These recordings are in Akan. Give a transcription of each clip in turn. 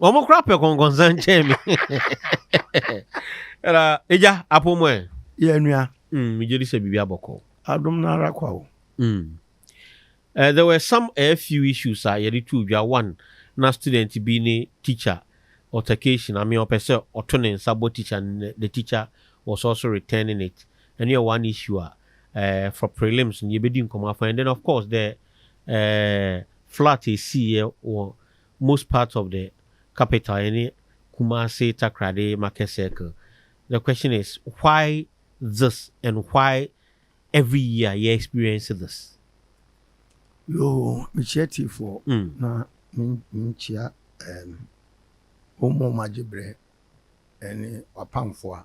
Wɔn kora pɛ kɔnkɔnsan kyɛn me. Ɛna egya apo mu ɛ. Yɛ nua. Mm, me gyeri sɛ biribi abɔ kɔ. Adom no ara kwa o. Mm. Uh, there were some a eh, few issues a yɛde tu dwa one na student bi ne teacher altercation I mean ɔpɛ sɛ ɔto ne nsa bɔ teacher the teacher was also returning it ɛno yɛ one issue a uh, for prelims no yɛbɛdi nkɔmmɔ afa and then of course the uh, flat ɛsiiɛ wɔ most part of the capital ɛne Kumasi Takoradi market circle the question is why this and why every year yɛ experience this. Yoo mekyia tiefoɔ na menkyia um, wɔn mu a wɔagye berɛ ne w'apamfoɔ a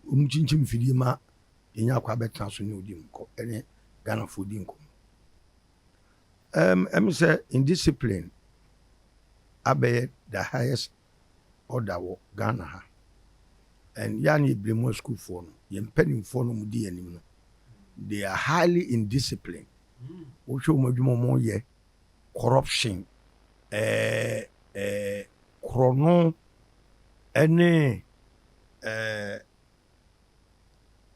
wɔkyinkyim mfidie ma yɛnya akɔ abɛtena so ne wodi nkɔ ne Ghanafoɔ di nkɔmmɔ. Um, ɛm sɛ indiscipline abɛyɛ the highest order wɔ Ghana ha. And yɛ a na yɛbire mu asukuufoɔ no, yɛn mpanimfoɔ no wɔdi yɛn anim no, they are highly indiscipline. Wohwɛ wɔn adwuma wɔn yɛ corruption, ɛɛ ɛɛ korɔno ɛne ɛɛ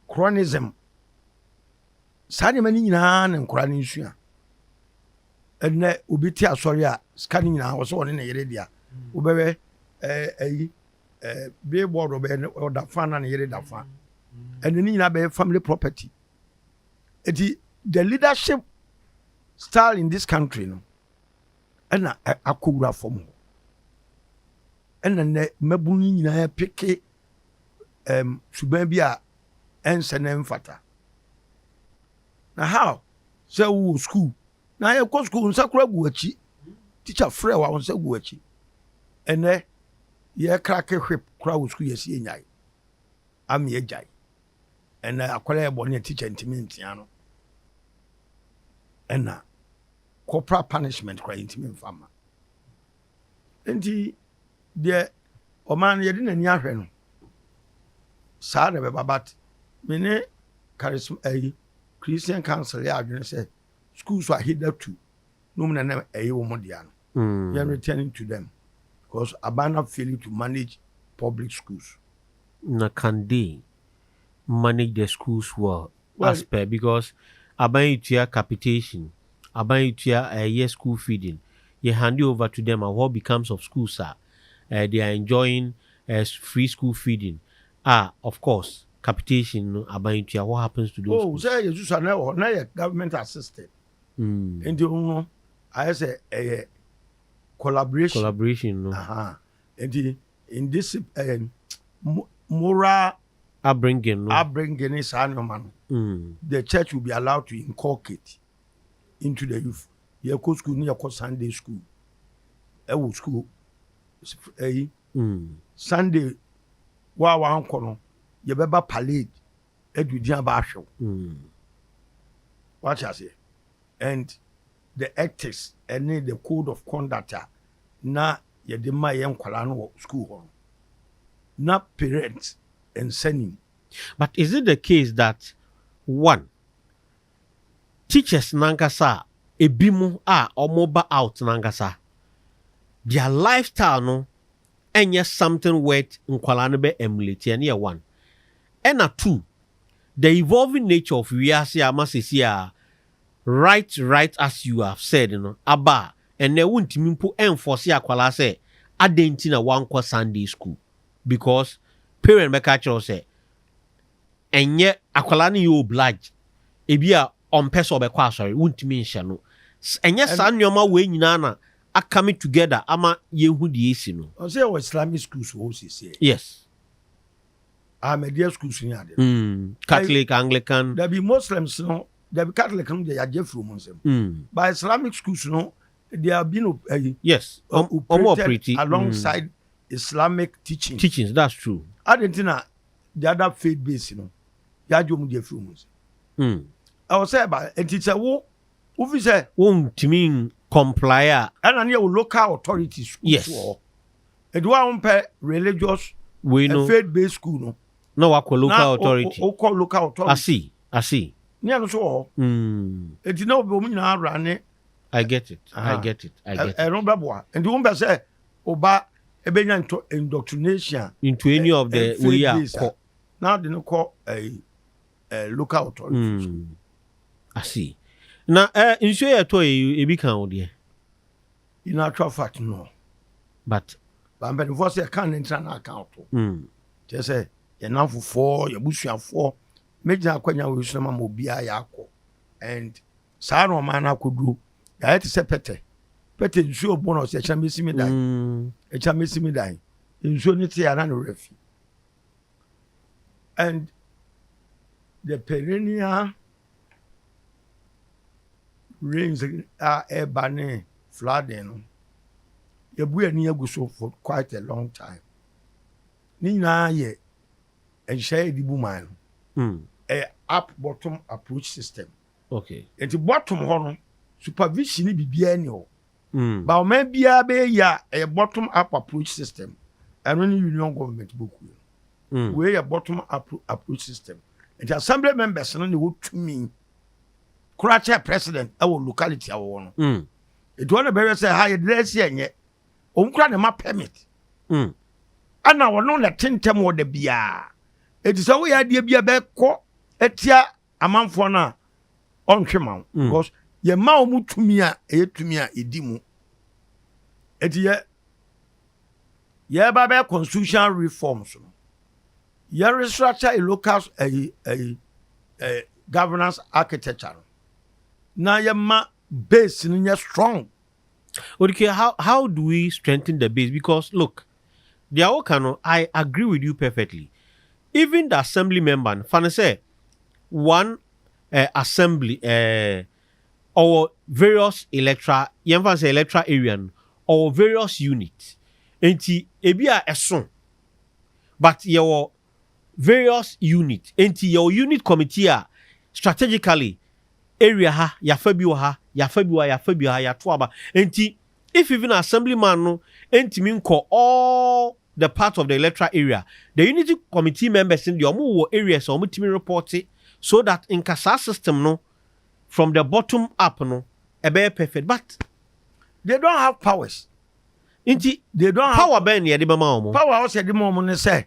cronyism. Saa nneɛma no nyinaa na nkwadaa no nsua. Ɛnɛ obi te asɔre a sika no nyinaa ɔsɛ ɔne ne yere dea. Wobɛhwɛ ɛyi billboard ɔbɛyɛ ɔda fa na ne yere da fa. Ɛnɛ ne nyinaa bɛyɛ family property. Eti the leadership style in this country no ɛna akɔwura fam hɔ. Ɛna nnɛ mmabunu yi nyinaa peke um suban bi a ɛnsɛ na ɛmfata. Na how sɛ wowɔ sukuu na yɛkɔ sukuu nsa kora gu akyi tikya frɛ wa nsa gu akyi ɛnɛ yɛkrake hwep kora wɔ sukuu yɛsi enyae ama yɛgyae ɛnɛ akwadaa yɛ bɔne a tikya ntumi ntea no ɛna corporal punishment kora yɛntumi mfa ma Enti deɛ ɔman no yɛde n'ani ahwɛ no saa na ɛbɛba but me ne charism ɛyi christian council yɛ adwene sɛ school so aheda tu nom na na ɛyɛ wɔn dea no mm. yɛn returning to them because abana failing to manage public schools. na kandee manage the schools well as per because aban yi tua capitation, aban yi tua ɛyɛ school feeding, yɛ hande over to them a what becomes of schools a eh, they are enjoying eh, free school feeding a of course capitation no aban yi tua what happens to those oh, schools. sɛ yɛ susu anɛ wɔ na yɛ government assisted mm. nti ho no ayɛ sɛ ɛyɛ collaboration collaboration no uh -huh. nti Indiscipline ɛɛ moral upbringing no upbringing ne saa nnoɔma no the church will be allowed to inculcate into the youth. Yɛkɔ sukuu ne yɛkɔ Sunday school ɛwɔ sukuu ɛyi Sunday wo a wankɔ no yɛbɛba parade ɛde din aba ahwɛ wo. Wate aseɛ and. The Ethics ne The Code of Conduct a na yɛde ma yɛn nkwadaa no wɔ sukuu hɔ no, na parents nsa nnim. But is it the case that one, teachers no ankasa a ebinom a wɔba out no ankasa, their lifestyle no nyɛ something worth nkwadaa no bɛ emulate, ɛno yɛ one. Ɛna two, the evolving nature of wiase a ama seesei a Right right as you have said no aba a, ɛnnɛ wontumi mpo ɛnfɔse akwadaa sɛ adɛn nti na wankɔ Sunday school because parent bɛka akyerɛ wo sɛ ɛnyɛ akwadaa no yɛ obliged ebi a ɔmpɛ sɛ ɔbɛkɔ asɔre wontumi nhyɛ no S ɛnyɛ saa nneɛma wei nyinaa na akame together ama yɛhu deɛ ɛsi no. Ɔsɛ yɛwɔ Islamic schools wɔ hɔ siesie. Yes. Ahmadiyya school so nya ade no. Mm. Catholic, Anglican. Dabi Muslims no, dabi Catholic no deɛ yagye afiri wɔn nsam. Mm. But Islamic schools no, they are being op- eh, Yes. Um, um, operated operate. Mm. alongside Islamic teachings. Teachings, that's true. Ade nti na the other faith base no, yagye wɔn deɛ afiri wɔn nsam. Mm. Ɛwɔ sɛ ɛba nti sɛ wo wofi sɛ Wontumi n- comply a. ɛna ne yɛ wo local authority schools Yes. wɔ hɔ. Edu a wompɛ religious and faith based school no. Na wakɔ local authority. Na wokɔ local authority. I see, I see. Ne ɛno nso wɔ hɔ. Eti na wɔn nyinaa awura ne. I get it, I get it, I get it. Ɛno bɛboa. Nti wompɛ sɛ ɔba ebenya into indoctrination. Into any of the way a kɔ. Na de no kɔ ɛɛ local authority. I see. Na ɛɛ nsuo yɛ tɔ yɛ ebi kan o deɛ. In actual fact no but ba mpanimfoɔ sɛ ɛka ne ntra no aka ɔto kyerɛ sɛ yɛn namfofoɔ yɛn abusuafoɔ mɛgyina akwanya wɔ yesu ma ma obiara yɛakɔ and saa na ɔman no akɔduro yɛayɛ te sɛ pɛtɛ pɛtɛ nsuo bɔ no sɛ ɛkyɛn mɛsi me dan ɛkyɛn mɛsi me dan nsuo no te ana ne werɛ fi and the perennial rains a ɛreba ne flooding no, yɛbu yɛn ani agu so for quite a long time. Ne nyinaa yɛ nhyɛ yɛde bu man no. Mm. Ɛyɛ up bottom approach system. Okay. Nti bottom hɔ no supervision biribiara ni hɔ. Ba ɔman biara bɛyɛ yie a ɛyɛ bottom up approach system ɛno ne union government bɔkuo no wei yɛ bottom up approach system nti assembly members no ne wɔ tumi kora kyɛ president ɛwɔ locality a wɔwɔ no nti wɔn na bɛhwɛ sɛ ha yɛde asi ɛnyɛ wɔn kora ne ma permit ɛna wɔn na ɛte ntɛm wɔ da biara ɛti sɛ woyɛ adeɛ bi a bɛkɔ atia amanfoɔ no a ɔnhwe ma wo because yɛ ma wɔn tumi a ɛyɛ tumi a ɛdi mu ɛti yɛ yɛreba bɛyɛ constitutional reforms no yɛ restructure a local ɛyi ɛyi ɛyi governance architecture no na yɛ ma base no nyɛ strong. Odikue how how do we strengthen the base because look deɛ woka no I agree with you perfectly even the assembly member no fa no sɛ one eh, assembly eh, ɔwɔ various electoral yɛn fa no sɛ electoral area no ɔwɔ various unit nti ebi a ɛso but yɛwɔ Various unit enti yɛwɔ unit committee a strategically area ha yɛafa bi wɔ ha yɛafa bi wɔ ha yɛafa bi wɔ ha yɛato aba enti if even assembly man no ntumi nkɔ all the part of the electoral area the unity committee members no deɛ wɔn wɔ areas a wɔn tumi report so that nka saa system no from the bottom up no ɛbɛyɛ perfect but they don't have powers. Nti, they don't have. Power bɛn na yɛde bɛma wɔn? Power a ɔsɛ yɛde ma wɔn ne sɛ,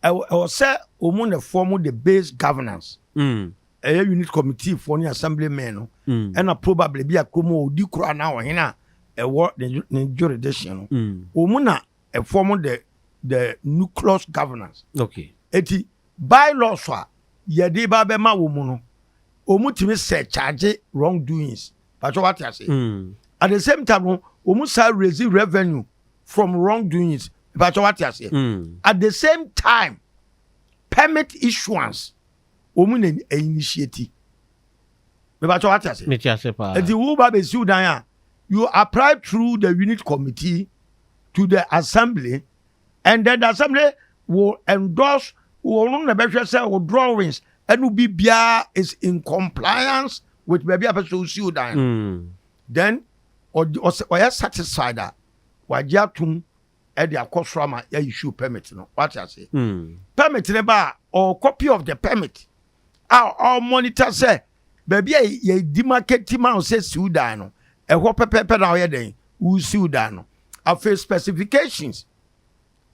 ɛwɔ ɛwɔ sɛ wɔn na form the base governance. Ɛyɛ unit committee foɔ ne assembly men no, ɛna probably bi a kurom a ɔdi koro anaa ɔhene a ɛwɔ ne ne jurisdiction no, wɔn na form the the nucleus governance. Okay. Eti bylaws a yɛde ba bɛma wɔn no, wɔtumi surcharge wrong doings Pacho wate ase. Mm. At the same time no, wɔn saa raise revenue from wrong doings. Pacho wate ase. Mm. At the same time, permit issuance wɔn na initiate. Pacho wate ase. Mete ase paa. Eti wo ba bɛ siw dan a, you apply through the unit committee to the assembly Ɛndɛ dasɛm ne wo endorse wo no na ɛbɛhwɛ sɛ wo drawings ɛne obi biara is in compliance with baabi a pɛ sɛ osi wo dan no. Then ɔyɛ satisfied a, wagye atom ɛde akɔ soro ama yɛ issue permit no. Wate aseɛ? Permit no ba a, ɔwɔ copy of the permit a ɔmɔnita sɛ baabi a yɛdi ma kɛti ma wo sɛ siw dan no ɛhɔ pɛpɛɛpɛ na ɔyɛ dɛn wosiw dan no afei specifications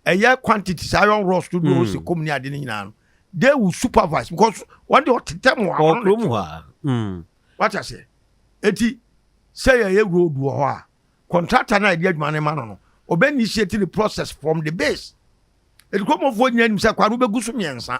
ɛyɛ quantities iron rods to do si kom ne ade no nyinaa no they will supervise because wɔn de ɔtetɛ mu a wɔn wata sɛ eti sɛ yɛyɛ road wɔ hɔ a contractor na yɛde adwuma no ma no no ɔbɛ initiate the process from the base ɛdikɔmɔfoɔ nyina nim sɛ kwa no bɛgu so mmiɛnsa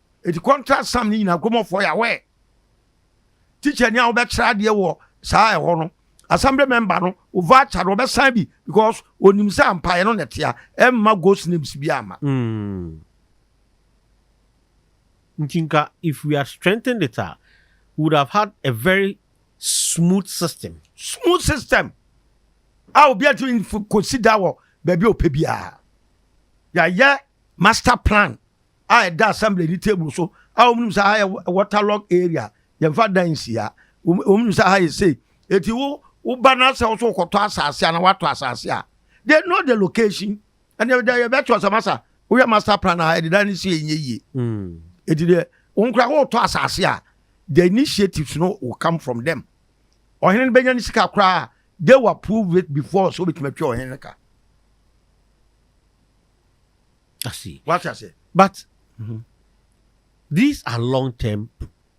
Eti contract sum ne nyinaa Nkromofɔ yawɛ teacher ni a wobɛkyerɛ adeɛ wɔ saa ɛhɔ no assembly member no wo voucher no ɔbɛsan bi because onim sɛ ampaeɛ no na ɛtea ɛmma ghost names bi ama. Mm. Nti nka if we had strengthened it a we would have had a very smooth system. Smooth system a obi atumi kɔsi da wɔ baabi a ɔpɛ biara. Yɛayɛ master plan a ɛda assembly ni table so a wɔn nim sɛ aha yɛ waterlog area yɛnfa dan nsia wɔn nim sɛ aha yɛ sei eti wo wo ba na sɛ wɔso kɔtɔ asase a na watɔ asase a they know the location and they they bɛ tɔ sɛ masa woyɛ master plan a ɛde dan ne si enye yie mm. eti deɛ wɔn kura wɔtɔ asase a the initiatives no will come from them ɔhene no bɛnya ne sika koraa they will approve it before so obetumi atwa ɔhene no ka. I see. Wate aseɛ? But these are long term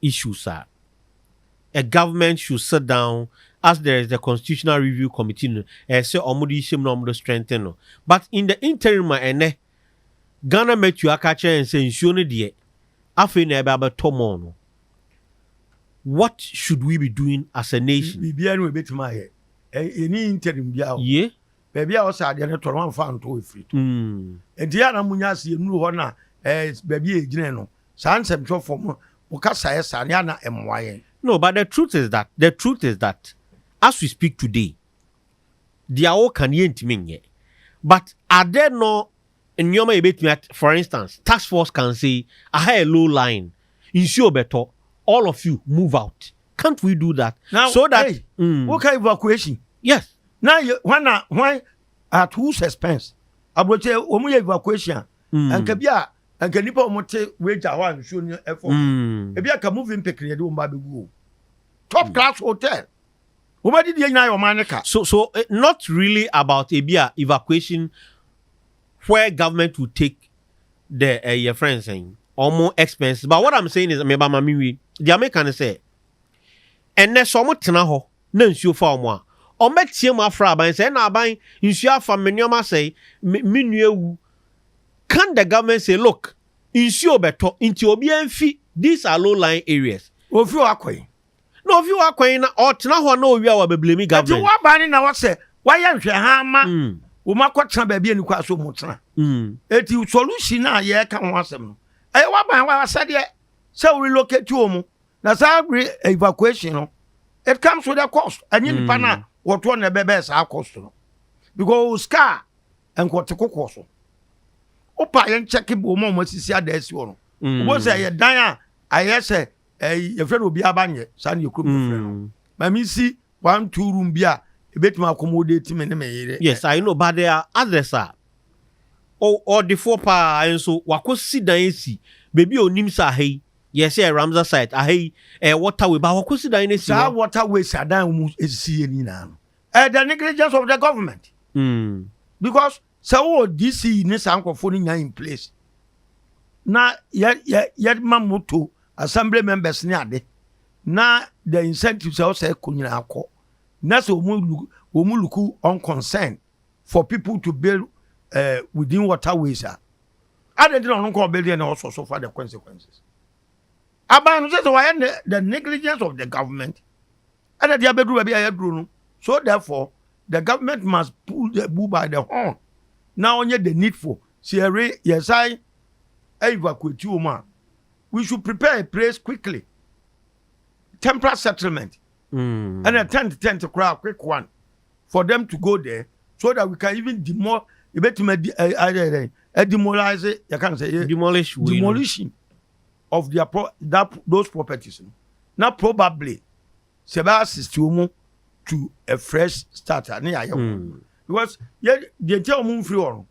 issues a a government should sit down as there is the constitutional review committee no ɛyɛ sɛ wɔn de hyɛ mu na wɔn de strengthen no but in the interim a ɛnɛ Ghana Matthew aka kyerɛ yɛn sɛ nsuo no deɛ afei na ɛbɛ abɛtɔ mɔɔ no what should we be doing as a nation? Biribiara no ebetumi ayɛ. Ɛni interim biara o. Ye? baabi a ɔsɛ adeɛ no tɔ no wamfa anto ɛfiri to ɛnti yɛ ana monya ase yɛnuru hɔ na baabi a yɛgyina no saa nsɛmtwerɛfoɔ mo mo kasaeɛ saa no yɛ ana ɛmmoa yɛn No but the truth is that the truth is that as we speak today deɛ woka no yɛntumi nyɛ but are there no nneɛma yɛbɛtumi at for instance task force can say aha yɛ low lying nsuo bɛtɔ all of you move out can't we do that now, so that hey, mm. woka evacuation yes na hwan na hwan at whose expense aburokyɛ wɔn yɛ evacuation a mm. nka bi a nka nipa wɔn te wagya hɔ a nsuo no ɛfɔ mm. ebi aka moving pikin yɛ de wɔn ba abegu o top mm. class hotel wɔn adi deɛ nyinaa yɛ wɔn ane ka. so so eh, not really about ebi a evacuation where government will take the eh, yɛfrɛ no sɛn ɔmo expenses but what i'm saying is meba ma me wie deɛ meka ne sɛ ɛnɛ sɛ ɔmo tena hɔ na nsuo fa ɔmo a ɔmo bɛteɛ mu afra aban sɛ ɛna aban nsuo afa me nneɛma asɛe me me nua awu can the government say look nsuo bɛtɔ nti obiara mfi these are low lying areas Wɔmfiri hɔ akɔ yi. Na ofi hɔ akɔ he na ɔɔtena hɔ na owia w'abeblemi government. Nti wɔɔba ne na wɔsɛ wayɛ nhwɛha ama wɔn akɔtena baabi a nikwa sɛ wɔn tena. Nti solution a yɛɛka ho asɛm no, ɛyɛ w'aban w'asɛdeɛ sɛ wo relocate wɔn na saa re evacuation no it comes with a cost ɛnyɛ nipa no a wɔtoɔ na ɛbɛbɛɛ saa cost no because o sika a nkɔte kokoɔ so wopa yɛn kyɛke bɔ wɔn a wɔn asisi adaasi hɔ no wɔn sɛ ɛyɛ dan a ayɛ sɛ ɛyi yɛfrɛ no obiara ba nyɛ saa ne yɛ kurom yɛfrɛ no mm. maame si one two room bi a ebetumi accommodate me ne me yere. yes i know but there are others a ɔdefoɔ paa nso wakɔ si dan esi beebi a onim sɛ aha yi yɛsɛ yɛ ramsar site aha yi ɛyɛ eh, waterway ba wakɔ si dan no esi hɔ. saa waterway si adan a wɔn esisi yɛ nyinaa no ɛyɛ the negligence of the government. Mm. because Sɛ wo wɔ DC yi ne saa nkorɔfoɔ no nyinaa in place na yɛ yɛ yɛ ma moto assembly members ne ade na the incentives a ɛwɔ sɛ ɛkɔ nyinaa kɔ na sɛ wɔn lu wɔn luku on concern for people to build eh, within waterways a adɛn nti na ɔno nko ɔbɛdeɛ na ɔsɔ so fa the consequences aban no sɛ sɛ wɔayɛ ne the negligence of the government ɛna de abɛduru baabi a yɛaduru no so therefore The government must pull the bull by the horn na ɔnyɛ the needful. Sɛ yɛre yɛsan evacuate wɔn a, we should prepare a place quickly. Temporary settlement. Mm. And a tent tent crowd, quick one for them to go there so that we can even demol ebetumi adi ɛ ɛ ɛ demolize yɛ kan sɛ yɛ demolish demolition of their pro that those properties na probably sɛ bɛ assist wɔn mu to a fresh start a ne yɛ ayɛ wɔn because yɛ deɛ nti a wɔn mfiri hɔ no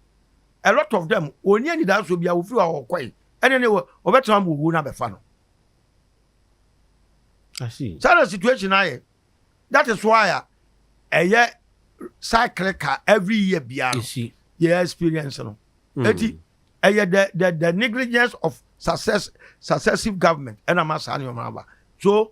a lot of them wɔn ni anidasoɔ bi a wɔfiri hɔ a wɔkɔe ɛne ne wɔ wɔbɛtena mu owuo no abɛfa no saa na situation ayɛ that is why a ɛyɛ cycle ka every year biara yɛ experience no hmm. eti ɛyɛ the the the negligence of success successive government ɛna ma saa nneɛma aba so.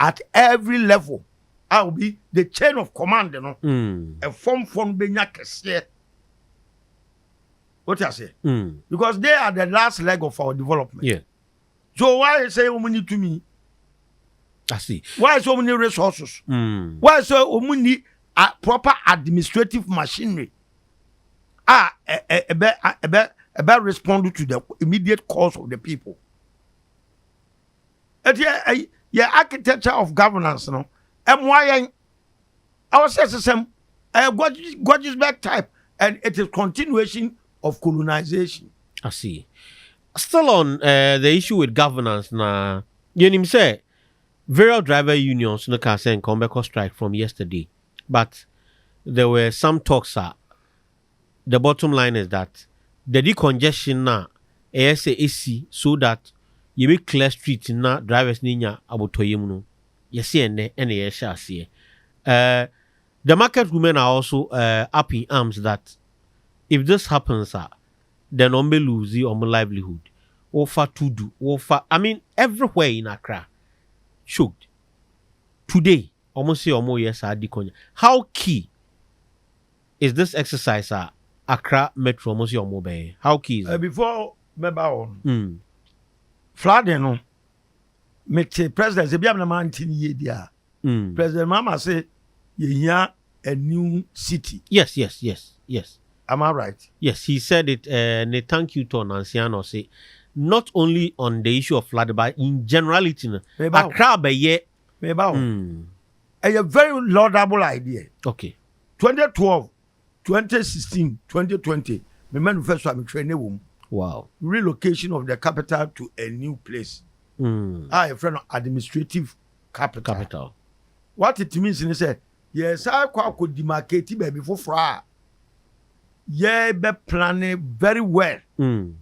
At every level a obi the chain of command no ɛfɔmfoɔ no bɛnya kɛseɛ wote aseɛ because they are the last leg of our development yeah. so why sɛ wɔn ni tumi why sɛ wɔn ni resources mm. why sɛ wɔn ni uh, proper administrative machinery a ɛbɛ ɛbɛ ɛbɛ respond to the immediate cause of the people. Enti ɛyi yɛ architecture of governance no ɛmoa yɛn ɛwɔ sɛ ɛsesɛm ɛyɛ Gordgesberg type and it is continuation of colonization. I see. Still on uh, the issue with governance na yɛnim sɛ various driver unions no kaa sɛ nka wɔbɛkɔ strike from yesterday but there were some talks a The bottom line is that the de congestion no a ɛyɛ sɛ ɛsi so that yɛbɛ clear street no na drivers no anya abotɔyam no, yɛse ɛnnɛ ɛna yɛrehyɛ aseɛ. Eh, the market women are also eh, up in arms that if this happens a, then wɔn bɛ lose wɔn livelihood. Wofa Tudu, wofa, I mean everywhere in Accra, choked. Today, wɔn se wɔn reyɛ saa de congestion. How key? Is this exercise a Accra Metro ɔmo se ɔmo bɛyɛ? How key is it? Before mɛba hɔ no, flooding no me te president se, bia na mante no yie deɛ a, President Mahama se yɛhia a new city. Yes, yes, yes, yes. Am I right? Yes, he said it ɛɛ ne thank you tour nansia na ɔse not only on the issue of flooding but in generality no, Meba hɔ. Accra bɛyɛ. Meba hɔ. Ɛyɛ very laudable idea. Okay. Twenty twelve, twenty sixteen, twenty twenty me manifesto a me twerɛ ne wom. Wow. Relocation of the capital to a new place. Mm. A yɛfrɛ no administrative capital. Capital. What it means ne sɛ yɛsan kɔ akɔ demarcate baabi foforɔ a yɛbɛ plane very well. Mm.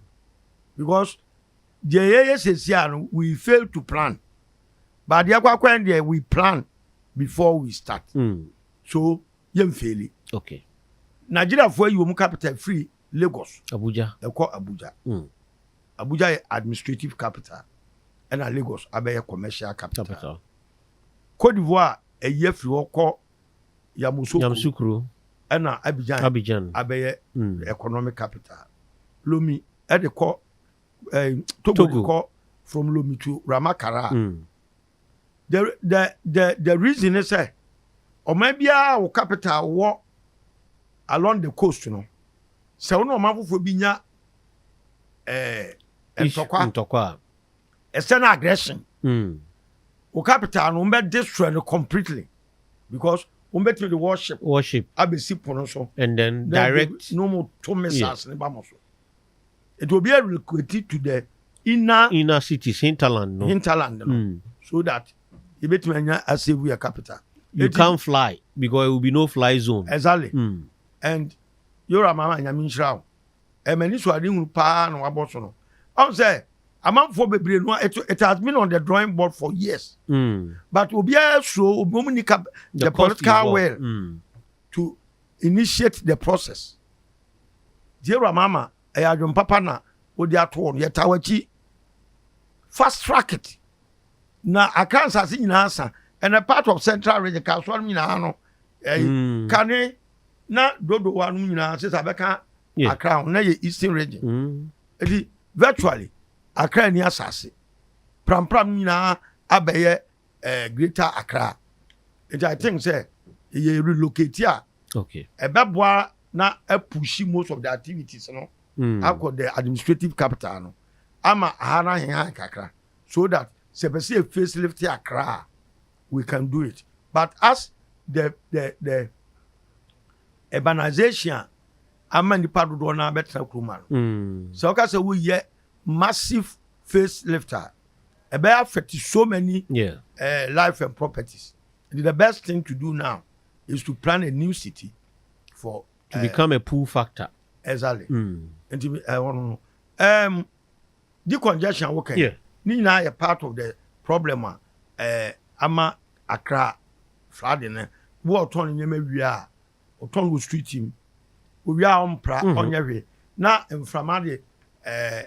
Because deɛ yɛyɛ sɛsi a no we fail to plan. But deɛ kɔ akɔyɛ deɛ we plan before we start. Mm. So yɛn feeli. Okay. Nigeria fo ayi wɔn capital firi Lagos. Abuja. Ɛkɔ Abuja. Mm. Abuja yɛ administrative capital. Ɛna Lagos abɛyɛ commercial capital. capital. Cote d'Ivoire ayi afiri hɔ kɔ Yamoussoukro. Yamoussoukro. Ɛna Abidjan. Abidjan. Abɛyɛ mm. economic capital. Lomi ɛde kɔ eh, Togo, Togo. kɔ from Lomi to Ramakara. Mm. The the the the reason ne sɛ ɔman biara wɔ capital wɔ along the coast no sɛ wo ne ɔman foforɔ bi nya eh, ntɔkwa ntɔkwa a ɛsɛ no aggression mm. wo capital no wɔbɛ destroy no completely because wɔbɛtumi de worship worship abɛsi pono so and then direct no mo to missiles ne ba mo so Nti obi a relocate to the inner inner cities hinterland no hinterland no mm. so that yɛbɛtumi anya asave yɛ capital. You can't fly because it will be no fly zone. Exactly. Mm. And yora mama nyame nhyira wo ɛma eh, ni so ade hunu paa na wabɔ so no ɔn sɛ amanfoɔ bebree no it, it has been on the drawing board for years mm. but obiara suro obiom ni ka the, the political well mm. to initiate the process. Jehovah ma ama ɛyɛ adwene papa na odi ato hɔ no, yɛtaa w'akyi fast track it. Na Accra nsase nyinaa sa, and a part of Central region, Kasoa no nyinaa no, ɛyi, mm. Kane na Dodowa no nyinaa sɛ sɛ abɛka yeah. Accra ho, na yɛ Eastern region. Mm. Eti virtually Accra ni asase, prampram no nyinaa abɛyɛ ɛɛ greater accra nti i think sɛ yɛ relocate a ɛbɛboa na apushi most of the activities no hmm. akɔ the administrative capital no ama aha no ahehan kakra so that sɛ pɛ sɛ face lift akra a we can do it but as the the the urbanization ama nipa dodoɔ no abɛtena kuroma no hmm. sɛ woka sɛ woyɛ massive Face lift a ɛbɛyɛ affect so many yeah. uh, life and properties. And the best thing to do now is to plan a new city for to uh, become a pull factor. Exactly. Mm. And to be, uh, um, um decongestion okay. Yeah. Ni na a part of the problem uh, uh, ama Accra flooding. Uh, wo ɔtɔn ne nneɛma wie a ɔtɔn wɔ street mu owie a ɔmpra ɔnyɛ hwee na mframa de ɛɛ. Eh,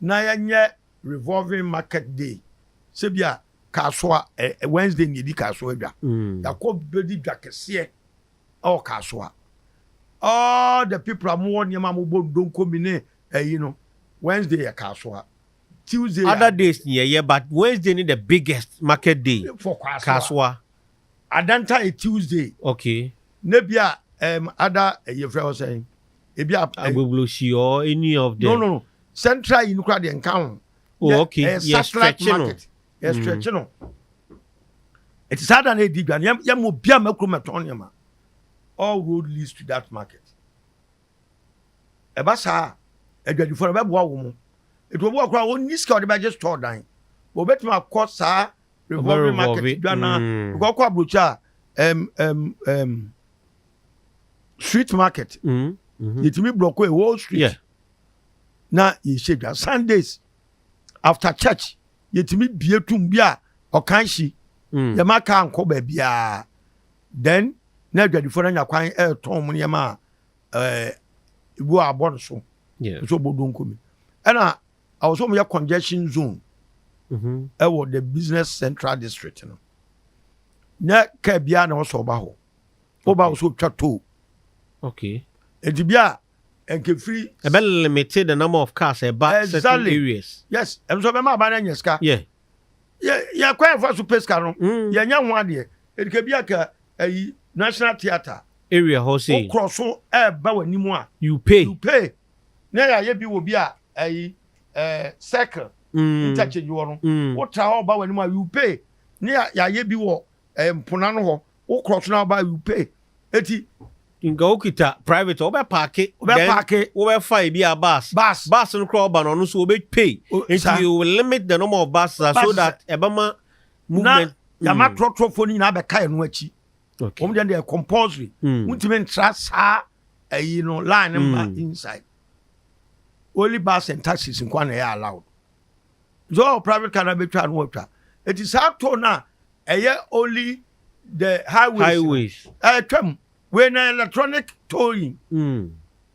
na yɛnyɛ revolving market day sɛ bi a kasoa ɛ Wednesday na yɛdi kasoa dwa yɛakɔ bɛdi dwa kɛseɛ ɛwɔ kasoa all the people a mowɔ nneɛma a mobɔ ndonkomi ne ɛyi no Wednesday yɛ kasoa Tuesday yɛ other days no yɛyɛ but Wednesday ne the biggest market day for kasoa. kasoa Ada nta yɛ Tuesday. Okay. Ne bi a um, ada yɛ frɛ hɔ sɛn? Ebi a. Agbogloshi or any of them. No no no. Central yi no kura deɛ nka ho. Oh okay. Yɛ yeah, stretch no. Yɛ yeah, mm. stretch no. Ɛti saa da na edi dwa no yɛ yɛ mo bi a mɛkuro mɛtɔn nneɛma. All road leads to that market. Ɛba saa a, adwadifo no bɛboa wo mo. Enti obi wɔ koraa a ɔnni sika a ɔde bɛgye store dan. But obetumi akɔ saa revolving market dwa no ara. Because ɔkɔ aburokyire a, ɛm, ɛm, ɛm, street market, yɛtumi blɔko a whole street na yɛhyɛ dwa. Sundays, after church, yɛtumi bie tum bi a ɔkan hyi. Yɛma kaa nkɔ baabiara. Then, na adwadifo no anya kwan ɛretɔn wɔn nneɛma a ɛɛ igu a abɔ no so nso ɔbɔ donko mi ɛna awɔ sɛ wɔyɛ congestion zone mm-hmm. ɛwɔ the business central district no nyɛ kaa biara na ɛwɔ sɛ ɔba hɔ ɔba awɔ sɛ ɔtwa toll okay eti bi a nkefiri. ɛbɛ limited the number of cars ɛba exactly. certain areas. yes ɛnu sɔ bɛ maa ba n'ɛnyɛ sika. yɛ yɛ kɔ yɛ fɔ so pay sika no. yɛ nyɛ ho adeɛ edike bi a ka Ayi, National Theatre. Area hɔ sei. Wo korɔ so ɛɛba w'anim a. You pay. You pay. Na yɛayɛ bi wɔ bi a ayi, eh, circle, interchange hɔ no. Wo tra hɔ ba w'anim a, you pay. Ne yɛayɛ bi wɔ eh, mpona no hɔ. Wo korɔ so na woba a, you pay. Eti. Nka wo kita private a, wobɛ paake. Wobɛ paake. Wobɛ fa ebi a bus. Bus. Bus no koraa ɔba no, ɔno nso ɔbɛ pay. Eti you will limit the number of buses so that ɛbɛma na yɛama torɔtorɔfoɔ no nyinaa bɛka yɛn no akyi wɔn deɛ deɛ compulsory wontumi ntra saa ayi no line no ma inside only bus and taxis nkoa na ɛyɛ allowed nso ɔwɔ private car na bɛtwa no wɔtwa ɛti saa too no a ɛyɛ only the highways ɛtwam wei na electronic towing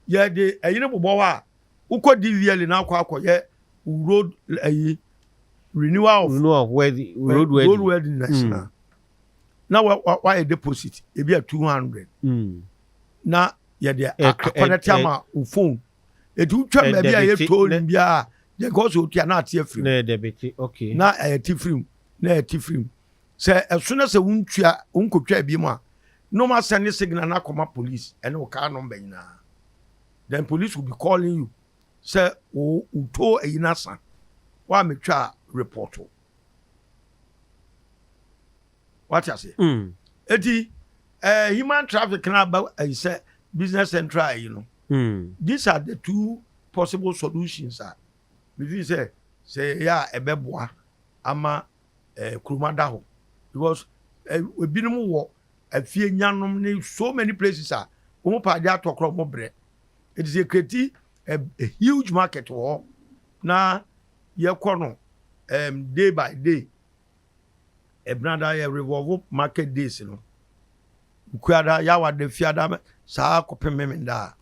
yɛde ɛyi no bobɔ hɔ a Wokɔ di wiɛli na akɔ akɔyɛ wo road ayi renewal of Renewal of wedding, road road wedding. worthiness Mm. na na wa- wa- wayɛ deposit ebi a 200 Mm. na yɛde a- Ɛk- ɛ- akɔnɛte ɛ- ama wo phone ɛti wotwa ɛ- baabi a ɛyɛ debete, tolling ne- biara a deɛ ɛkɔ so wotua na ate afiri mu. Na yɛ debete, okay. na ɛyɛ ti firi mu na ɛyɛ ti firi mu sɛ ɛso na sɛ wontua wonkɔtwa bi mu a na wɔasɛne signal no akɔma police ɛne wo car number nyinaa Then police will be calling you sɛ wo wo too ayi no asa wa me twa report o wate ase mm. eti ɛɛ eh, human traffic na aba ayi eh, sɛ business central ayi no mm. these are the two possible solutions a mefi sɛ sɛ ɛyɛ a ɛbɛboa ama ɛɛ eh, kuruma da hɔ because ebinom wɔ afie nyanom ne so many places a wɔn pɛ ade atɔ koraa wɔn brɛ it is a kreti a huge market wɔ hɔ na yɛkɔ no um, day by day ɛbenada yɛ revolve market days no nkuada yawada fiada saa kɔpem memenda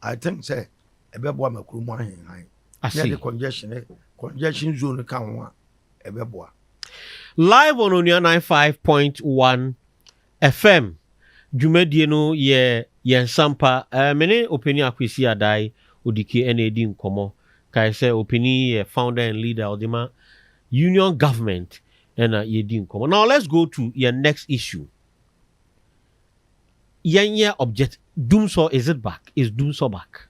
a i think sɛ ɛbɛboa ma kurom ahenhan na yɛde congestion congestion zone ka ho a ɛbɛboa. Live on Onua 95.1 FM dwumadie no yɛ yɛn nsampa. Me ne Opanin Akwesi Adai Odike na ɛredi nkɔmmɔ. Kae sɛ Opanin yi yɛ founder and leader a ɔde ma Union Government na yɛredi nkɔmmɔ. Now let's go to yɛn next issue. Yɛnyɛ object, Dumsor is it back? Is Dumsor back?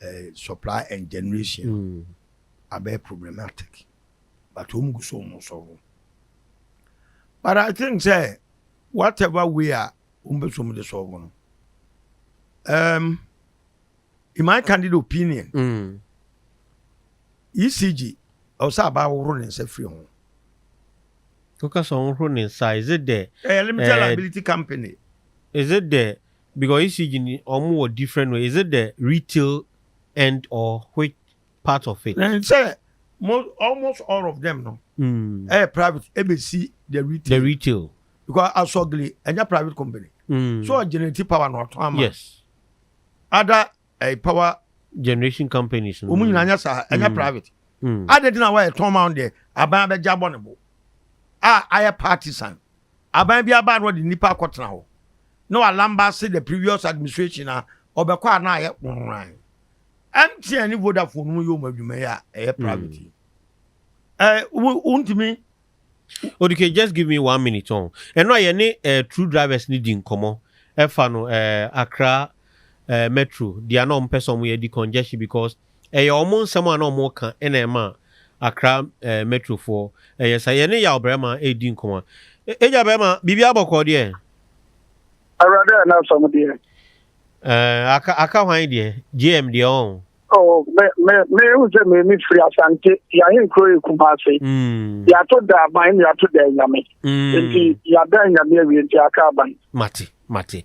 eh, supply and generation mm. abɛyɛ problematic but wɔn gu so wɔn sɔrɔ but i think sɛ whatever way a wɔn bɛ so wɔn de sɔrɔ no um, in my candid opinion mm. ecg ɔsɛ aba ahoro ne nsa firi ho. kókà sọ ɔhoro ne nsa is it the. ɛyɛ eh, limited eh, liability company. is it the Because ECG no ɔmo wɔ different way is it the retail end or which part of it. Ɛne sɛ almost all of them no ɛyɛ private ɛbɛsi the retail. The retail. Because asɔgili ɛnyɛ private company. Mm. So ɔgenerate power na ɔtɔn ama. Yes. Ada ɛyɛ power generation companies no. Wɔn nyinaa nyɛ saa, ɛnyɛ private. Adɛn nti na wɔyɛ tɔn ma wɔn deɛ? Aban abɛgye abɔ ne bo a ayɛ partisan. Aban bi aba a na ɔde nnipa akɔtena hɔ na walambase the previous administration a ɔbɛkɔ a na ayɛ hwanhwan. MTN ne Vodafone no yɛ wɔn adwuma yi a ɛyɛ private yi. Ɛ, wo, wontumi Odike just give me one minute ɔn. Ɛno a yɛne eh, true drivers no di nkɔmmɔ ɛfa no eh, Accra eh, Metro deɛ na wɔn pɛ sɛ wɔn yɛ di congestion because ɛyɛ wɔn nsɛm a na wɔn ka ɛna ɛma Accra eh, Metro foɔ ɛyɛ saa. Yɛne yaw barima ɛredi nkɔmmɔ. E, Agya barima, biribi abɔkɔɔ deɛ? Awurade a n'asɛm deɛ. Eh, aka, aka hwan deɛ? JM deɛ ɔn. Oh, me, me, me, uze me, me free asante, ya hin kro ye kumase. Mm. Ya to da ban, ya to da nyame. Mm. Enti, ya da nyame ya wiye, enti ya ka ban. Mati, mati.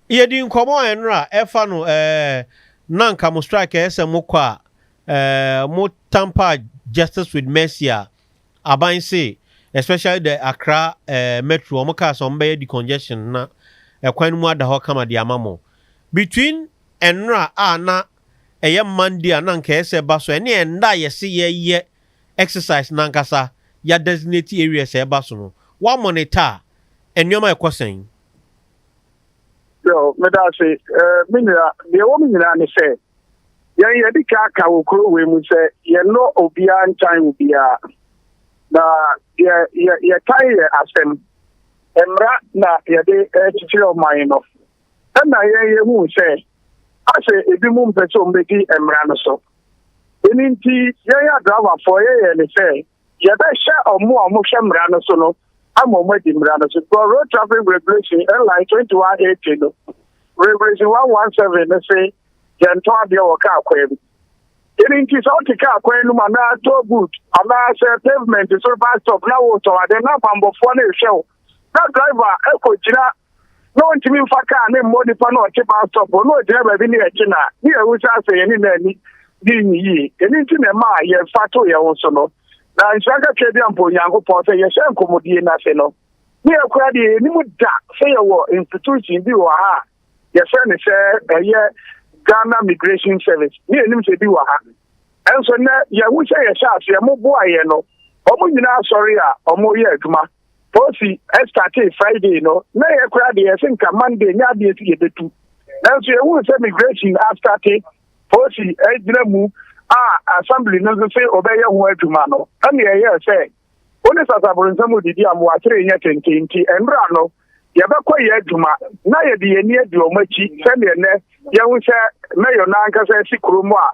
Iye di nkomo enra, efa no, eh, nanka mo strike ese mo kwa, eh, mo tampa justice with mercy a, aban se, especially the akra, eh, metro, omo ka se ombe ye di congestion na, ekwan mu adaho kama di amamo. Between nnora a na ɛyɛ Monday a na anka ɛyɛ sɛ ɛba so, ɛne ɛnda a yɛse yɛyɛ exercise no ankasa, yɛadesignate areas a ɛba so no, woamonitor a, nneɛma rekɔ sɛn? Yoo, meda ase. Eh, me nua, deɛ ɛwɔ mu nyinaa ne sɛ, yɛn yɛde ka aka wɔ kuro wei mu sɛ yɛnnɔ obiara ntan obiara. Na yɛ yɛ yɛtan yɛ asɛm. Mmara na yɛde eh, kyekyere ɔman no. Ɛnna yɛn yehuu sɛ ase ebinom mpɛ sɛ wɔbedi mmara no so. Ɛno nti, yɛn adrabafoɔ yɛyɛɛ no sɛ yɛbɛhyɛ wɔn a wɔhwɛ mmara no so no ama wɔadi mmara no so. Bɔ Road Traffic Regulation, LI, 2180 no, Regulation 117 no se yɛntɔ adeɛ wɔ kaa kwan mu. Ɛno nti, sɛ wote kaa kwan no mu anaa toll booth anaasɛ pavement so bus stop na woretɔn adeɛ na bammɔfoɔ no rehwɛ wo na driver kɔgyina na ɔntumi mfa kaa ne mmɔ nipa na ɔte bus stop hɔ na ɔgyina baabi ne yɛkye no a, ne yɛhu sɛ asɛ yɛne no ani di yie. Ɛno nti na ɛmaa yɛfa too yɛn ho so no. Na nhyira kakra bi a mpo Onyankopɔn sɛ yɛhyɛ nkɔmmɔdie no ase no, ne yɛn koraa deɛ yɛnnim da sɛ yɛwɔ institution bi wɔ ha a yɛfrɛ no sɛ ɛyɛ Ghana Migration Service, ne yɛnnim sɛ bi wɔ ha. Ɛnso nnɛ yɛhu sɛ yɛhyɛ aseɛ, moboa yɛn no, wɔn nyinaa sɔre a wɔreyɛ adwuma. Fosi startee Friday no, na yɛn koraa deɛ yɛse nka Monday nyɛ adeɛ si yɛbɛtu. Nanso yɛhuu sɛ migration astate, Fosi gyina mu a Assembly no nso se wɔbɛyɛ ho adwuma no, ɛnna yɛyɛɛ sɛ wo ne Sasabronsam redidi a mowatiri renyɛ tenten nti nnora no yɛbɛkɔ yɛ adwuma na yɛde yɛn ani adi wɔn akyi sɛdeɛ nnɛ yɛahu sɛ Mayor no ankasa asi kurom a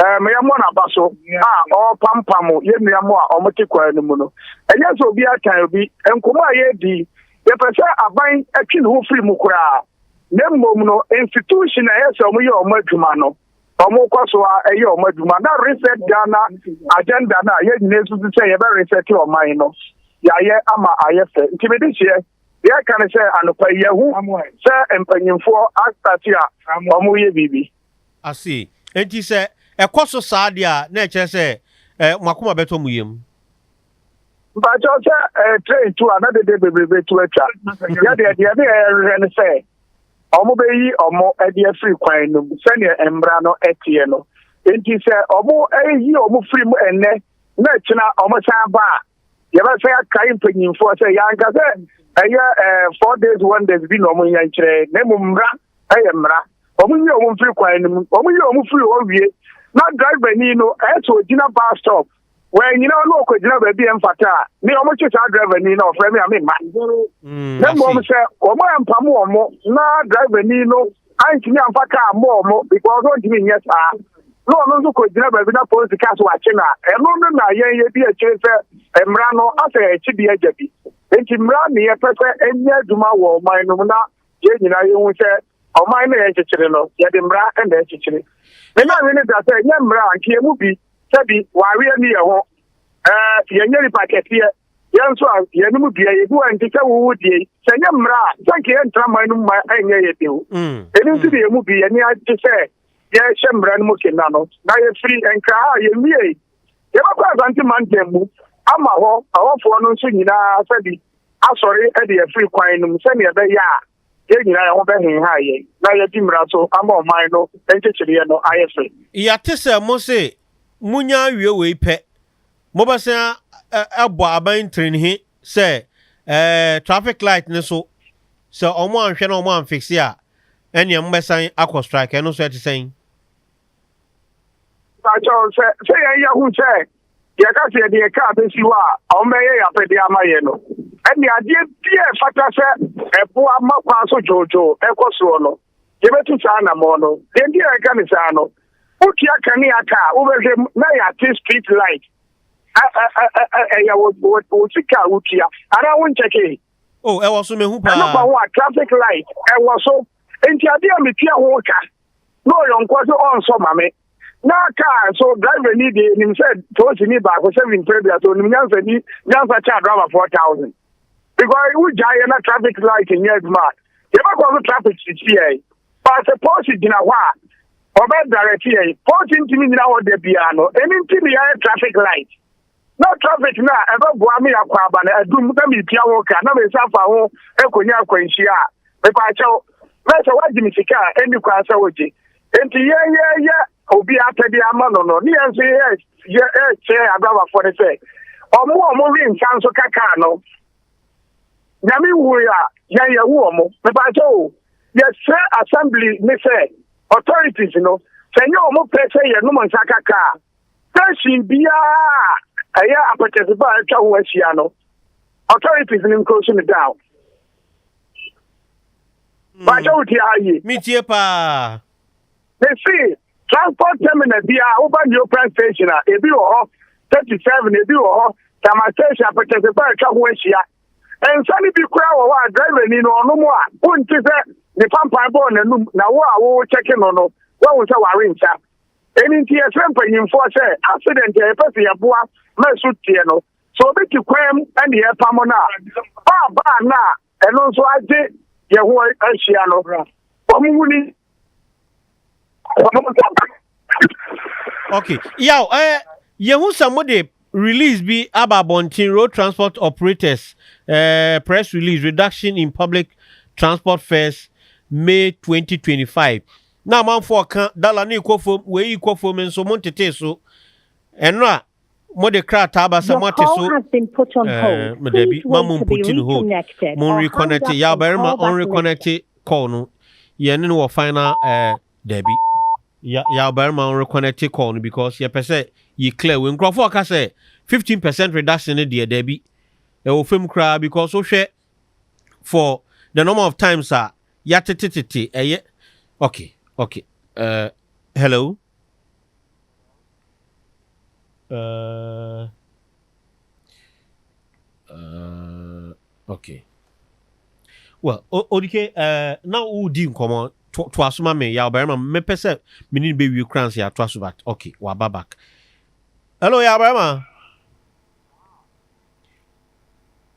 Meyɛ mo na ba so a ɔrepampam yɛn nua mo a wɔte kwan no mu no. Ɛnyɛ sɛ obi atan obi. Nkɔmmɔ a yɛredi yi, yɛpɛ sɛ aban twe ne ho firi mu koraa, na mmom no, institution a ɛyɛ sɛ wɔyɛ wɔn adwuma no, wɔkɔ so ara yɛ wɔn adwuma. Na Reset Ghana agenda no a yɛn nyinaa susu sɛ yɛbɛ reset ɔman no, yɛayɛ ama ayɛ fɛ. Nti me dehyeɛ, deɛ ɛka ne sɛ anɔpa yi, yɛahu sɛ mpanyimfoɔ asate a wɔreyɛ biribi. ase. Enti sɛ ɛkɔ so saa de a, na ɛkyerɛ sɛ mo akoma bɛtɔ mo yam. Mpakyɛw, sɛ train tu a, na dede bebree betu atwa. Yɛn deɛ, deɛ ne yɛhwehwɛ ne sɛ wɔbɛyi wɔn de afiri kwan no mu sɛdeɛ mmara no teɛ no. Enti sɛ wɔyi wɔn firi mu ɛnnɛ na akyina wɔsan ba a, Yɛbɛsan akae mpanyimfoɔ sɛ yɛanka sɛ ɛyɛ eh, four days wonders bi na wɔn nyɛ nkyerɛɛ na mmom mmara ɛyɛ mmara. Wɔn nyi wɔn mfiri kwan no mu, wɔn yi wɔn firi hɔ wie na driver ni no ɛyɛ sɛ ogyina bus stop wɔanyina hɔ na ɔkɔgyina baabi a ɛmfata a ne wɔn kye saa driver ni na ɔfrɛ me a memma. Mm, na mmom sɛ wɔn ampam wɔn na driver ni no Antumi amfa kaa mmɔɔ mo because ɔntumi nyɛ saa. Na ɔno nso kɔgyina baabi na polisi kaa sɛ wakye no a, ɛno no na yɛn yɛdi akyire sɛ mmara no asɛ ɛkye bi agya bi. Enti mmara ne yɛpɛ sɛ ɛnyɛ adwuma wɔ ɔman no mu na yɛn nyinaa yɛhu sɛ ɔman no a yɛrekyekyere no, yɛde mmara na ɛrekyekyere. Me maame no da sɛ ɛnyɛ mmara a, anka yɛn mu bi, sɛbi, wareɛ nni yɛn ho. Ɛɛ, yɛnyɛ nnipa kɛseɛ. Yɛn nso a, yɛn mu biara, yɛbu wɔn nti sɛ wowu deɛ, sɛ ɛnyɛ mmara a, sɛ anka yɛntra man no mu ma ɛnyɛ yɛ de o. Mm. Ɛno nti de yɛn mu bi, yɛne agye sɛ yɛhyɛ mmara no mu kena no, na yɛfiri nkra ha a yɛnwiei. Yɛbɛkɔ Asante mantam mu ama hɔ ahɔfoɔ no nso nyinaa sɛ bi asɔre de afiri kwan no mu sɛdeɛ ɛbɛyɛ a yɛn nyinaa yɛn ho bɛhenha yɛn na yɛadi mmara so ama ɔman no nkyekyereɛ no ayɛ fɛ. Yɛate sɛ mo se monya awie wei pɛ Mobɛsan abɔ aban trenhe sɛ ɛɛ traffic light no so sɛ ɔmo anhwɛ na ɔmo anfixe a ɛneɛ mobɛsan akɔ strike ɛno nso ɛte sɛn? Pakyɛw sɛ sɛ yɛn yɛ hu sɛ yɛ ka sɛ yɛde yɛ car bɛsi hɔ a ɔmo bɛyɛ yɛ apɛdeɛ ama yɛ no ɛneɛ adeɛ biaa ɛfata sɛ ɛboa ma kwan so dwoodwoo ɛkɔ soɔ no Yɛbɛtu saa anammɔn no. Deɛ nti a yɛka no saa no, wotua kanea ka a, wobɛhwɛ mu na yɛate street light. Ɛyɛ wo sika a wotua anaa wonkyɛkee? Oh, ɛwɔ so, mehu paa. Ɛno fa ho a, traffic light, ɛwɔ so. Enti adeɛ a metua ho ka na ɔyɔnkoɔ sɛ ɔnsɔ ma me. na kaa nso driver ni deɛ nim sɛ toosi ni baako seven mpere bia so nim nyansa ni nyansa kyɛ driver four thousand because wogya yɛ na traffic light nyɛ adwuma a yɛbɛkɔ so traffic sisi yɛn baasɛ pɔsi gyina hɔ a ɔbɛ direct yɛn pɔsi ntumi nyina hɔ da biara no ɛni nti ne yɛyɛ traffic light Na traffic no a ɛbɛboa me akɔ aba no adum na metua ho ka na me nsa fa ho kɔnya akwanhyia a, mepaakyɛw, na sɛ woagye me sika a, ɛnni kwan sɛ wogye. Enti yɛn yɛreyɛ obi apɛdeɛ ama no no, ne yɛn nso yɛrekyerɛ adrabafoɔ no sɛ ɔmo a ɔmo we nsa nso ka kaa no, Nyame nwui a, yɛn yɛwo ɔmo. Mepaakyɛw o, yɛsrɛ Assembly no sɛ, authorities no, sɛ nyɛ ɔmo pɛ sɛ yɛnom nsa ka kaa a, Station biara a ɛyɛ apɛtɛsefo a atwa ho ahyia no, authorities no nkroso no down. Baakyɛ wo tie ha yie. Me tie paa. Mese transport terminal biara woba Neoprene station a ebi wɔ hɔ 37 ebi wɔ hɔ Tama station apɛtɛsefo a atwa ho ahyia. Nsa no bi koraa wɔ hɔ a driver ni no ɔnom a wonte sɛ ne pampan bɔɔ n'anum na wo a wo kyɛke no no wahu sɛ ware nsa. Ɛno nti yɛsrɛ mpanyimfoɔ sɛ ase dɛ nti a yɛpɛ sɛ yɛboa ma ɛso teɛ no, sɛ obi te kwan mu ne yɛrepamo no a, baa baa no a ɛno nso agye yɛn ho ahyia no, wɔn mu ni. Okay, yaw, eh, yehu sɛ mo de release bi aba abɔnten road transport operators eh, press release reduction in public transport fares May 2025. Na amanfoɔ reka, Dala no rekɔ fam, wei rekɔ fam nso, montetee so. Ɛno a mode krataa aba sɛ moate so ɛɛ dabi ma mo mputi no hold mo reconnecte yɛ abarima ɔn reconnecte call no yɛne no wɔ final ɛɛ dabi yɛ yɛ abarima ɔn reconnecte call no because yɛpɛ sɛ yɛ clear wei nkurɔfoɔ ka sɛ fifteen percent reduction no deɛ dabi ɛwɔ fam koraa because wohwɛ for the number of times a yɛatete tete ɛyɛ ok ok uh, hello uh, uh, ok well odike uh, na wodi nkɔmmɔ to, to aso ma me yɛ ɔbarima mepɛ sɛ mene no bɛwie kora nsɛ yɛato aso bat ok waba back hello yɛ ɔbarima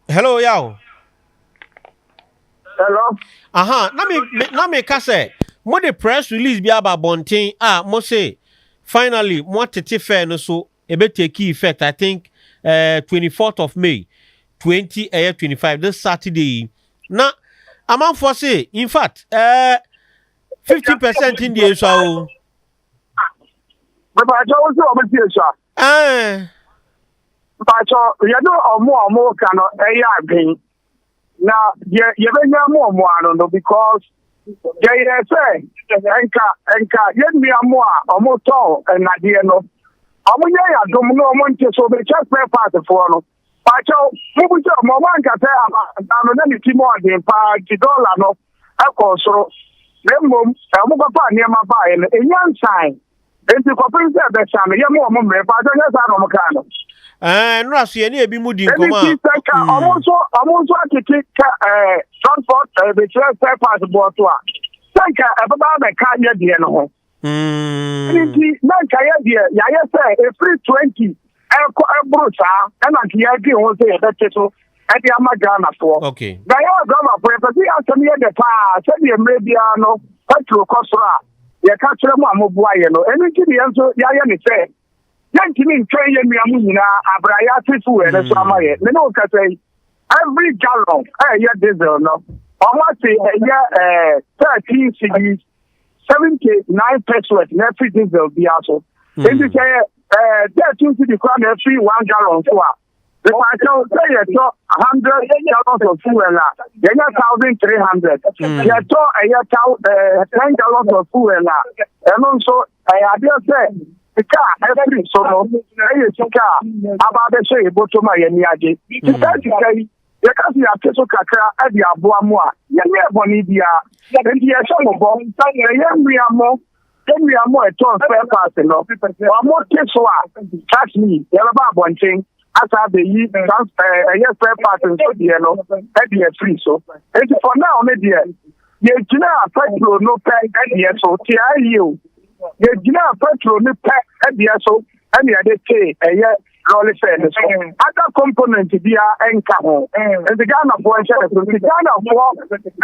hello yaw. hello. aha na mi na mi ka sɛ mo de press release bi aba abɔnten a mo se finally mo atete fɛ no so ebe take effect i think uh, twenty fourth of may twenty ɛyɛ twenty five this saturday yi na amanfoɔ se in fact ɛɛ eh, fifty percent in deɛ esua o. bàbá àjọ wọn sọ wọn ti esua. Ae. Mpatsɔ yɛne ɔmo a ɔmo ka no yɛ adwen na yɛ yɛbɛnya mu ɔmo ano no because yɛyɛ sɛ nka nka yɛn nua mo a ɔmo tɔn nnadeɛ no ɔmo nyɛ yɛ adom no ɔmo nte so mekyɛ spare part foɔ no. Pakyɛw, mubisa mu a, moanka sɛ amansan no na ne ti mu ɔden paa nti dɔla no kɔɔ soro, na mmom wɔkɔfaa nneɛma baeɛ no, emu ansan nti kɔpem sɛ ɛbɛsa no, yɛma wɔn mmerɛ. Pakyɛw, ɛnyɛ saa na wɔkaa no? Ɛɛ, nnora so yɛne ebinom di nkɔmmɔ a. Ɛno nti, sɛ ka wɔn nso, wɔn nso atete ka ɛɛ transport ɛɛ bɛkyerɛ spare parts boɔ so a, sɛ nka ɛbɛba abɛka yɛn deɛ no ho. Mm. Nti na nkaeɛ deɛ yɛayɛ sɛ ɛfiri 20 ɛkɔ ɛboro saa ɛna nti yɛadwen ho sɛ yɛbɛte so ɛde ama Ghanafoɔ. Okay. Na yɛ wɔ Ghanafoɔ yɛpɛ sɛ yɛasɛm yɛ dɛ paa sɛdeɛ mmerɛ biara no patro kɔ soro a yɛka kyerɛ mu a moboa yɛ no ɛno nti deɛ nso yɛayɛ ne sɛ yɛntumi ntwɛn yɛ nnua mu nyinaa abrɛ a yɛate so wɔ ɛno so ama yɛ me ne wo kasa yi every gallon ɛyɛ diesel no ɔmo ase ɛyɛ ɛɛ thirteen cedis seventy nine percent na ɛfiri diesel biara so hmm. nti sɛ yɛ ɛɛ thirty cedi kora na ɛfiri one gallon so a nípa kyɛw sɛ yɛtɔ hundred gallons of fuel a yɛnyɛ thousand three hundred hmm. yɛtɔ ɛyɛ taw ɛɛ ten gallons of fuel a ɛno nso ɛyɛ adeɛ sɛ sika a ɛfiri so no ɛyɛ sika a aba abɛhyɛ yɛ bɔtɔ mu a yɛn ani agye sika sika yi. Yɛka sɛ yɛate so kakra de aboa mo a, yɛnyɛɛ bɔne biara. Enti yɛhyɛ mo bɔ sɛ yɛn nua mo, yɛn nua mo a ɛtɔn spare parts no, wɔte so a, trust me, yɛbɛba abɔnten asan abɛyi trans ɛɛ ɛyɛ spare parts nso deɛ no ɛde afiri so. Enti for now no deɛ, yɛgyinaa petrol no pɛ ɛdeɛ so, te ara yie o, yɛgyinaa petrol no pɛ ɛdeɛ so ɛne yɛde tee ɛyɛ lɔɔre sɛ ne so ada component biara nka ho nti ghanafoɔ nhyɛ ne so nti ghanafoɔ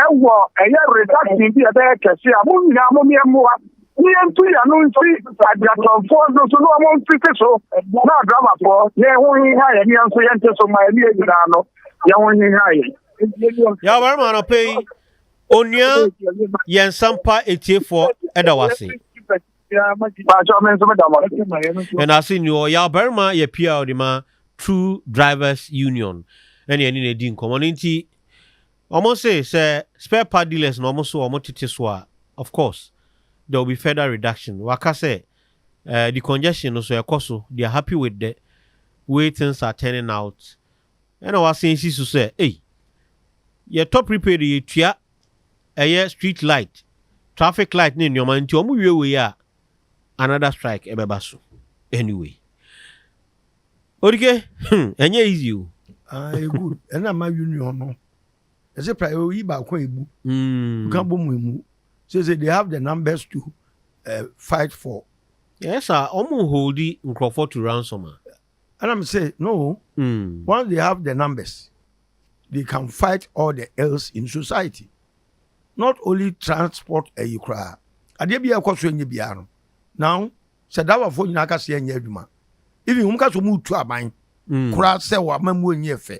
ɛwɔ ɛyɛ reduction bi ɛbɛyɛ kɛse a mo nyinaa mo meɛ mmoa ne yɛntu yɛ no nsi agyatɔnfoɔ no so na ɔmo mfiti so na adramafoɔ yɛn ho heha yɛn yɛn nso yɛnte so ma ɛne nyinaa no yɛn ho heha yɛn yɛ ɔbarima anɔpɛ yi onua yɛn sampa etiefoɔ ɛda wase yɛda ase nnuo ɔyɛ ɔbarima yɛ pr de ma true drivers union ɛne ɛne na ɛdi nkɔmmɔ no nti wɔn se sɛ spare part dealers na wɔn so wɔn tete so a of course there will be further reduction waka sɛ uh, the congestion no so ɛkɔ so they are happy with the way things are turning out ɛna wasen si so sɛ ei yɛtɔ prepaid yɛtua ɛyɛ street light, traffic light ne nneɛma nti wɔn wie wei a another strike ɛbɛba so anyway. Odike, hmm, ɛnyɛ easy o. Ah, e good. Ɛna ma union no. Ɛsɛ pra oyi baako ebu. Mm. Ka bɔ mu emu. So say they have the numbers to uh, fight for. Yes, sir. Wɔn holdi nkurɔfoɔ to ransom a. Ɛna me se no once they have the numbers they can fight all the ills in society not only transport ayi koraa adeɛ bi a ɛkɔ so ɛnyɛ biara no now sɛ dawafoɔ nyinaa ka se ɛnyɛ adwuma even wɔn ka so wɔn retu aban koraa sɛ wɔn amamuo nyɛ fɛ.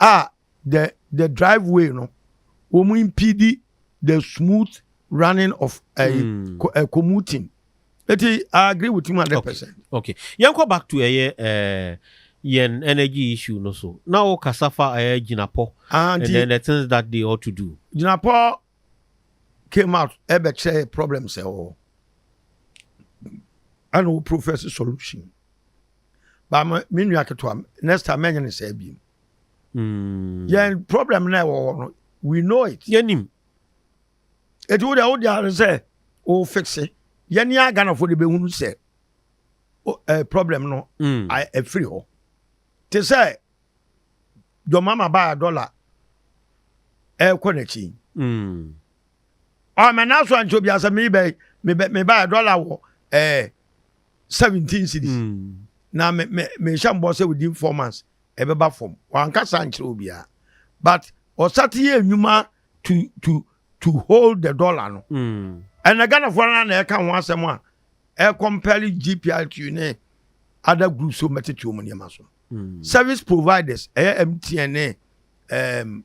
a the the drive way no wɔn impede the smooth running of uh, mm. co, uh, commuting eti i agree with him hundred percent. okay yɛn kɔ back to ɛyɛ uh, eh, yɛn energy issue no so na o kasa fa ɛyɛ gyinapɔ ah, and then the things that they ought to do. gyinapɔ came out ɛbɛ kyerɛ yɛ problems ɛwɔ hɔ ɛna wo professor solution ba ma me nua ketewa next time mɛnyɛ ne saa biem mm. yɛn problem na ɛwɔ hɔ no we know it yɛnim ɛti wo deɛ wode ade sɛ wo fixe yɛne a ghanafoɔ de bɛhunu sɛ problem no ɛfiri mm. hɔ te sɛ John Mahama baa dɔla ɛrekɔ n'akyi. Mm. Ɔ mɛ n'aso ankyɛ obi asɛ mi bɛ mi bɛ mi baa dɔla wɔ ɛɛ eh, seventeen cities. Mm. Na mɛ mɛ mɛ hyɛ mbɔ sɛ within four months ɛbɛba fam. Wankasa ankyerɛ obiara. But ɔsate yɛ nnwuma to to to hold the dollar no. Mm. Ɛnna Ghanafoɔ no na ɛka ho asɛm a ɛkɔmpɛle GPRTU ne other groups so mɛtete wɔn nneɛma so. service providers ɛyɛ mtn ne ɛɛm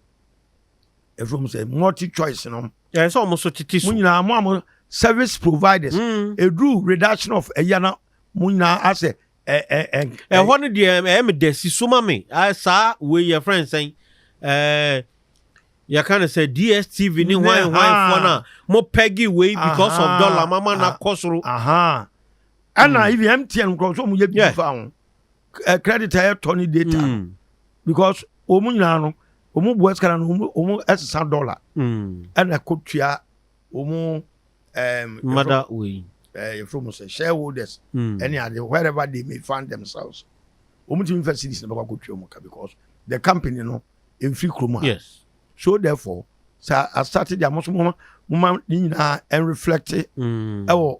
efiri mu sɛ multi choice nom. ɛyɛ sɛ wɔn so tete so. mo nyinaa mo a mo service providers mm. eduru reduction of ɛyɛ na mo nyinaa asɛ ɛ ɛ ɛ. ɛhɔ no deɛ ɛyɛ mi dɛ si so ma mi saa wei yɛ fɛn sɛn ɛɛ yɛka no sɛ dstv ne hwan hwan foɔ no a mo pɛgi wei because of dollar mama na kɔ soro. ɛna ibi mtn nkurɔfoɔ mu yɛ bi fa ho. eh, credit a yɛtɔ ne data no mm. because wɔn nyinaa no wɔn bu ɛsika no wɔn ɛsesa dollar mm. ɛna ɛkɔ tua wɔn ɛɛm mada wei ɛɛ yɛfrɛ mu sɛ shareholders mm. ɛne ade wherever they may find themselves wɔn ti mi fɛ series na bɛkɔ akɔ tua wɔn ka because the company no nfiri kurom ha yes so therefore sɛ asate deɛ mo so mo ma ne nyinaa ɛnreflɛkte ɛwɔ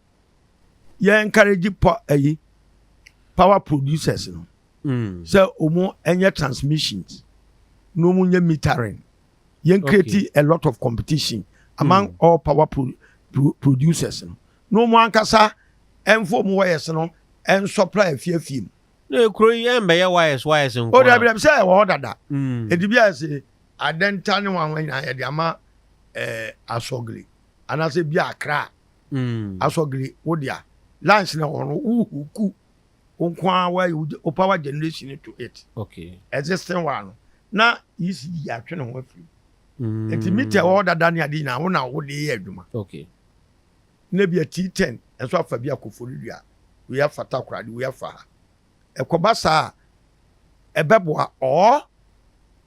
yɛ encourage pa ayi power producers no mm. sɛ wɔn ɛnyɛ transmissions na wɔn nyɛ metering yɛn create okay. a lot of competition among mm. all power pro, pro, producers no na wɔn ankasa ɛnfo wɔn wires no ɛnsɔpla afiafie mu. na ekuro yi ɛnbɛyɛ wires wires nkɔ. o dabi dabi sɛ ɛwɔ hɔ dada. Mm. edibi ase adɛnta ne wɔn ahɔn nyinaa yɛde ama ɛɛ eh, asɔgili anaasɛ bi akra. asɔgli wo dea lunch na hɔ no wo huku wo nko ara wa wo power generation to it okay existing wa no na isi yi atwe ne ho afiri mm. nti mita wɔ dada ne ade nyinaa wo na wo de yɛ adwuma okay na bi ati ten ɛso afa bi akofo no dua wo yɛ afa takora de wo yɛ afa ha ɛkɔba saa ɛbɛboa ɔɔ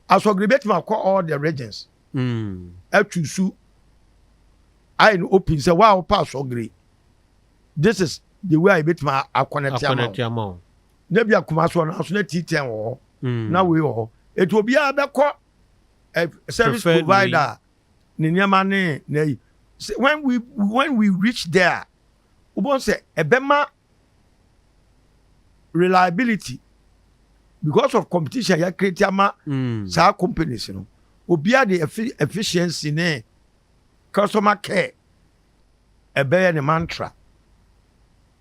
asɔgli betuma kɔ all the regions. ɛtu su ayɛ no open sɛ wo a wopɛ asɔgere this is the way a yɛbɛtumi akɔnɛte ama wo na bi akoma so ɔno nso na T10 wɔ hɔ mm. na wei wɔ hɔ ɛti obiara bɛkɔ eh, service provider ne nneɛma ne na yi when we when we reach there wobɛhu sɛ ɛbɛma reliability because of competition yɛ create ama mm. saa companies no obiara de efficiency ne customer care ɛbɛyɛ ne mantra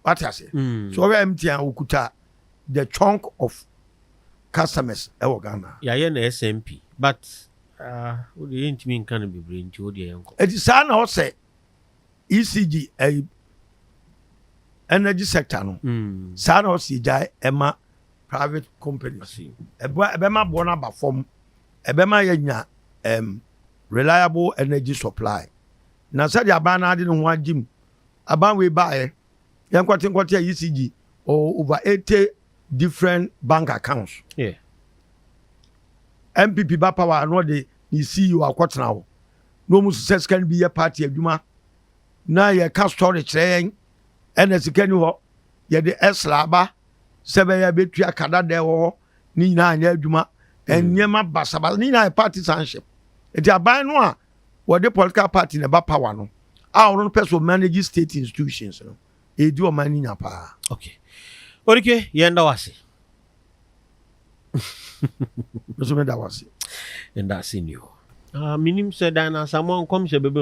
wate ase mm. so ɔbɛ mtn okuta the chunk of customers ɛwɔ ghana. yàyɛ na smp but ah, o de yɛn ntumi nka no bebree nti o de yɛn kɔ. eti saa na ɔsɛ ECG ɛyi energy sector no hmm. saa na ɔsi gya ɛma private companies ɛbɛ ɛbɛma boɔ no aba fam ɛbɛma yɛ nya ɛm reliable energy supply na sɛdeɛ aban no adi ne ho agye mu aban wei baayɛ yɛn nkɔte nkɔte a ECG ɔwɔ over eighty different bank accounts. Yeah. NPP ba power ano de ne CEO akɔtena hɔ. na ɔmu sisɛ sika no bi yɛ party adwuma na yɛ ka story kyerɛ yɛn ɛna sika ni hɔ yɛde ɛsra aba sɛ bɛyɛ bɛtua kada dɛ wɔ hɔ ne nyinaa anyɛ adwuma hmm. nneɛma basabasa ne nyinaa yɛ party sanship nti aban no a wɔde political party na ɛba power no a ɔno no pɛ so manage state institutions no ɛdi ɔman no nya paa okay orike yɛn da wase Nso meda wo ase. Ndaase ni o. Ah, minim sɛ dan no asamoah nkɔmhyɛ bɛbɛm.